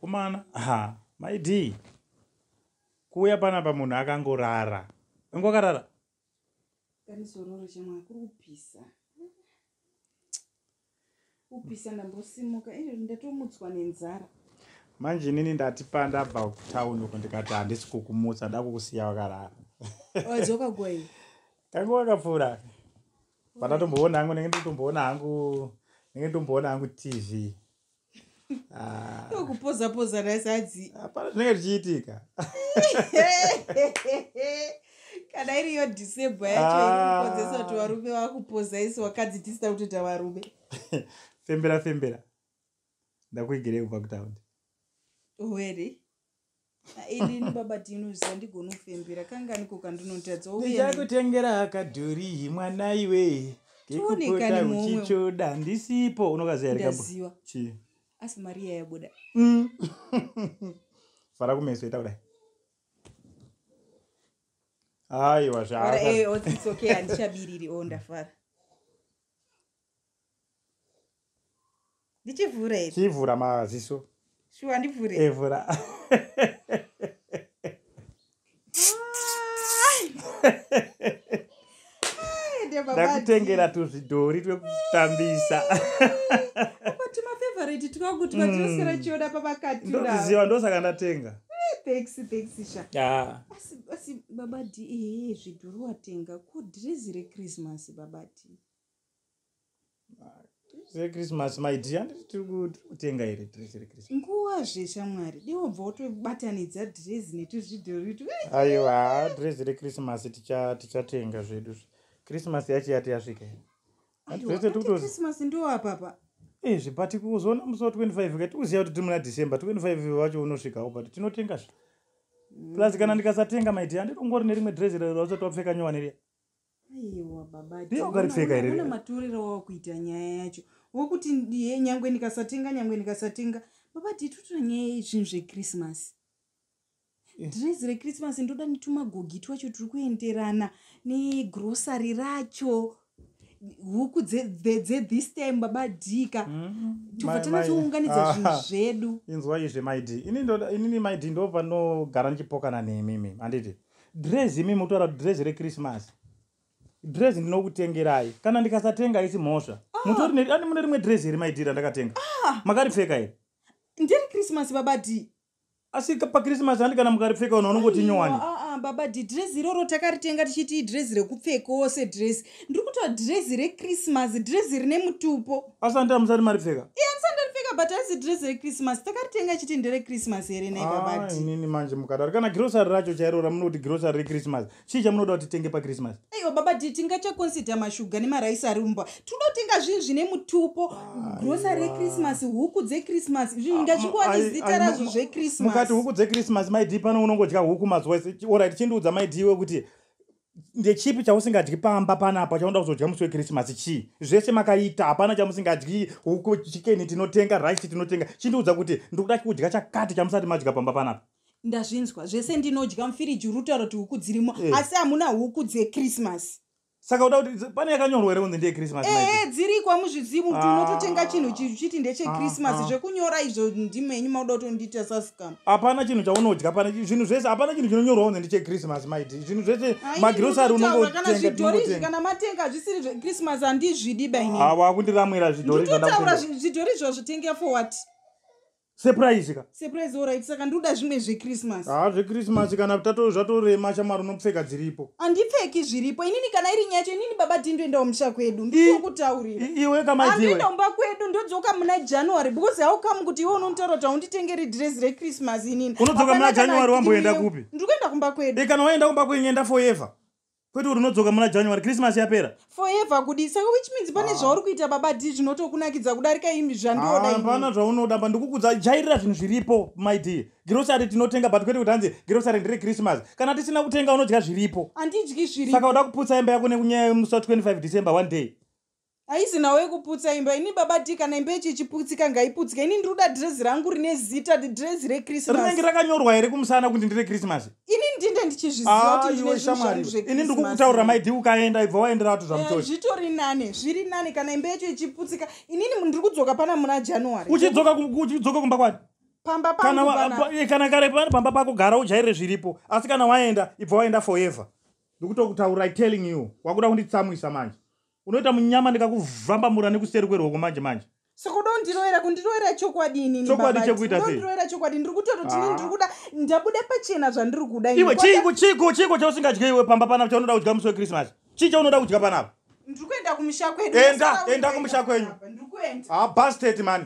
mukomana ha maidii kuuya panapa munhu akangorara ingokarara kanisororo chamwana kuri kupisa kupisa ndambosimuka izvo ndatomutswa nenzara manje inini ndati pandabva kutown uko ndikati handisi kukumutsa nda kukusiya wakarara wadzoka gwai kange wakapfuura pandatomboona hangu ndenge nditomboona hangu ndenge nditomboona hangu tv Ah. kupoza poza nasadzi hapana zvinenge zvichiitika kana iri yo disable yacho irikonzesa ah. kuti varume vakupoza isi wakadzi tisina kutoita varume fembera fembera ndakuigirei kubva kutaundi were inini baba tinozviziva ndigona kufembera kanganiko kandinotadzaichakutengera hakadhorihi mwana iwe kekupota uchichoda ndisipo unokazivaziva asi mari yayabuda mm. fara kumeso ita kudai aiwa zvaandichabiriri eh, o oh, ndafara ndichivhura here chivhura maziso shuwa ndivhure evhura ndakutengera tuzvidhori twekutambisa timafavorite twangu timatinosiira mm. chioda pavakatiziva ndosaka ndatenga asi babadi ee zvidhori watenga ko dhirezi rechristmas babadi sechristmas my dia handiti tiri kutenga here dresi rechristmas nguva zve shamwari dewobva wotobatanidza dresi netuzvidhoritu aiwa dresi rechristmas tichatenga zvedu zve christmas yacho yati yasvika hechristmas ndo apapa e zvibati kuzoona musi wa 25 ka tikuziva kuti tiri muna december 25 vacho unosvikawo but tinotenga zve plus kana ndikasatenga my dia handitongori nerimwe dresi rerauchati wapfeka nyowani riya aiwa babaungaripfeka hereuna matorero wava kuita nyaya yacho wokuti ndiye nyangwe ndikasatenga nyangwe ndikasatenga baba tituta nyaya yezvinhu zvekrismasi eh. dhirezi rekrismasi ndoda nitumagogi twacho tiri kuenderana negrosary racho huku dzethis time baba dika mm-hmm. tobva tanazounganidza ah. zvinhu zvedu inzwa izve maidi inini maidi ndovanogara ndichipokana nemi mimi handiti dress imi motaura kuti dress rekrismas dress ndinokutengerai kana ndikasatenga isi mhosva ah. mutori neani mune rimwe dress here maidira ndakatenga ah. makaripfeka here ndiri krismas baba d asi pakrismas andi kana mukaripfeka unhu unongoti nyowani ah, baba d dress iroro takaritenga tichiti idress rekupfekawo sedress ndiri kutoa drezi rechristmas drezi rine mutupo asandi amusati maripfeka e andisati ndaripfeka but aisi drezi rechristmas takaritenga chiti nderechristmas here naibabainini ah, manje mukadaro kana grosary racho chairora munoti grosary rechristmas chii chamunoda kuti tenge pachristmas aiwa baba ti tingachaconsider mashuga nemaraisi ari umbwa tinoda kutenga zvinhu zvine mutupo ah, grosary rechristmas huku dzechristmas izvi ah, ndachikuwa nezita razvo zvechristmas mukati huku dzechristmas maidii pano unongodya huku mazuva ese orit chindiudza maidii wekuti ndechipi chausingadyi pamba panapa chaunoda kuzodya musi wekrisimasi chii zvese makaita hapana chamusingadyi huku chikeni tinotenga rice tinotenga chindiudza kuti ndikuda kudya chakati chamusati madya pamba panapa ndazvinzwa zvese ndinodya mufiriji uri kutaura kuti huku dzirimo eh. asi hamuna huku dzekrisimasi saka uda kuti pane yakanyorwa here kunzi ndeyekrisimasi ee eh, eh, dziriko amuzvizivi kuti ah. unototenga chinhu chiti ndechekrisimasi ah, ah. zvekunyora izvo ndimhenyu mauda kutondiita sas hapana chinhu chaunodya pane zvinhu zvese hapana chinhu chinonyorwa kunzi ndichechristmas maidi zvinhu zvese magirosari unongotengatikana matenga zvisiri zvechristmas handizvidi baiwakundiramwira zvidhori zvandautaura zvidhori izvo zvitenga for what surprise ka surprise orit saka ndikuda zvimwe zvechristmas haa zvechristmas kana zvatorema shamwari unopfeka dziripo andipfeki zviripo inini kana iri nyacho inini baba dii ndoenda kumusha kwedu ndikokutaurira iwe kamaiandoenda kumba kwedu ndodzoka muna january because how come kuti iwe unontaura kuti haunditengeri dress rechristmas inini unodzoka muna january wamboenda kupi ndiri kuenda kumba kwedu e kana waenda kumba kwenyu enda forever kwete kuti unodzoka muna january christmas yapera forever kudii saka which means pane ah. zvauri kuita baba d zvinotokunakidza kudarika imi zvandoda hapana zvaunoda pa ndikukudza jairira zvinhu zviripo my d girosari tinotenga but kwete kuti hanzi girosari ndiri christmas kana tisina kutenga unodya zviripo handidyi zviri saka uda kuputsa imba yako nekunyaya yemusi wa 25 december one day haizi nawo yekuputsa imba ini baba d kana imba yechi ichiputsika ngaiputsika ini ndiri kuda dhirezi rangu rine zita dhirezi rechristmas rinenge rakanyorwa here kumusana kuti ndire christmas ini ndinge ndichizviziva kuti ah, ndine shamwari ini ndikukutaurira maidi ukaenda ibva waendera vatu zvamutoshi eh, zvitori nane zviri nane kana imba yacho ichiputsika inini ndiri kudzoka pana muna january uchidzoka uchidzoka kumba kwani pamba kana eh, kana kare pani pamba pako gara ujaire zviripo asi kana waenda ibva waenda forever ndikutokutaura i telling you wakuda kunditsamwisa manje unoita munyama ndikakuvambamura nekuseri kwerwoko manje manje saka uda kundiroera kundiroera chokwadi inini chokwadi chekuita sei ndiroera chokwadi ndiri kutoita kuti inini ah. ndiri kuda ndabuda pachena zvandiri kuda iwe chiiko chiiko chiiko chausingadye iwe pamba panapa chaunoda kudya musi wekrismas chii chaunoda kudya panapa ndiri kuenda kumusha kwedu enda enda kumusha kwenyu ndiri kuenda habastet ah, mani